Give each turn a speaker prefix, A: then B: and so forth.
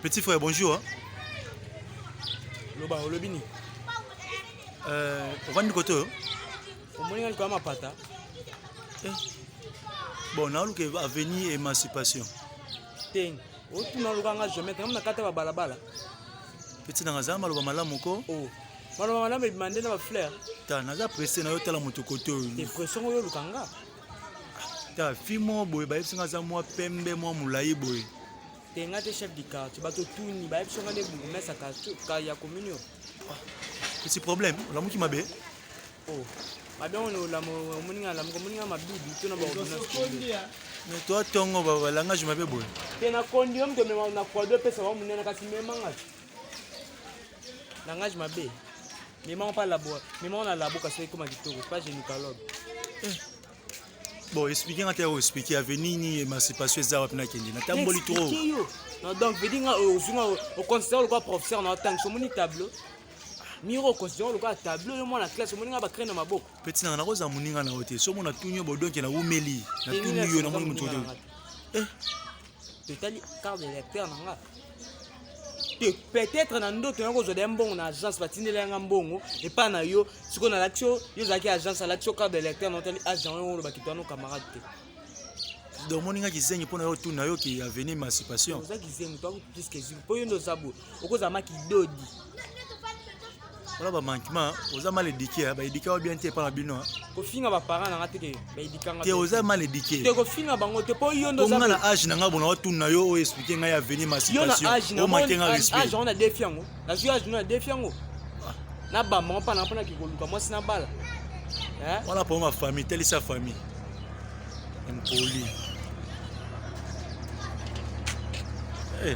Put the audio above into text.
A: Petit frère, bonjour. Hein.
B: Loba, olobini. Euh,
A: ovandi kote oyo? Omoni ngai
B: likolo mapata. Eh.
A: Bon, naoluka avenue émancipation. Te.
B: Otuna luka nga jamais, tango nakata ba balabala. Petit
A: nanga za maloba malamu ko. Oh. Maloba
B: malamu ebima nde na ba fleur. Ta naza pressé
A: na yo tala moto kote oyo. Te pression oyo oluka
B: nga.
A: ta fi moko boye bayebisi nga aza mwa pembe mwa molai boye te nga te chef
B: du quartier bato tuni bayebisi nga nde bourgmestre ya commune yo
A: esi ah, problème olamuki mabe oh,
B: mabe yango nolamu omoni nga lamuka omoni nga mabibi to na baordonnance to
A: atongo balangage mabe boye te na kondi yo
B: moto omema na kwado epesa bango monene kasi memanga langage mabe Mema pa labo, mema na labo kasi ekoma kitoko, pas gynécologue. Eh.
A: Bon, expliquer nga te ko expliquer avenir ni émancipation eza wapi na kende. Na tamboli trop. Na donc vedi
B: nga euh, osunga au euh, considère le quoi professeur na tank so moni tableau. Miro considère le quoi tableau yo mwana classe moni nga ba crane na maboko. Petit na na ko za muninga
A: na hotel. So mona tunyo bodonke na umeli. Na tunyo na moni mutoto. Eh. totali
B: carte de lecteur na nga te peut-être na ndoto yango ozwa deya mbongo na agence batindeli yanga mbongo epai na yo sikoyo nalakisi yo yo ozalaki agence alakisi yo carte de lecteur na otali agent ah, yango olobaki toano camarade
A: te donc omoni nga kizengi mpo na yo tuna yo ki avenir emancipation oza kizengi to puiske
B: ezwi mpo yo nde oza boye okozala makidodi
A: wana bamankima oza mal edike eh, baedike wa bien te epa na bino eh. kofinga baparent
B: nanga teke baedikanga te oza mal edike eh.
A: te kofinga bango te
B: mpo yo ndonga na age na ngai bona
A: watuna yo oyo explike ngai avenir ma situationomake nga respect ona defi yango
B: nazwi age no na defi yango ah. na bambango mpa nanga mpo nake koluka mwasi na bala wana
A: mpo ma famille telisa famille impoli hey.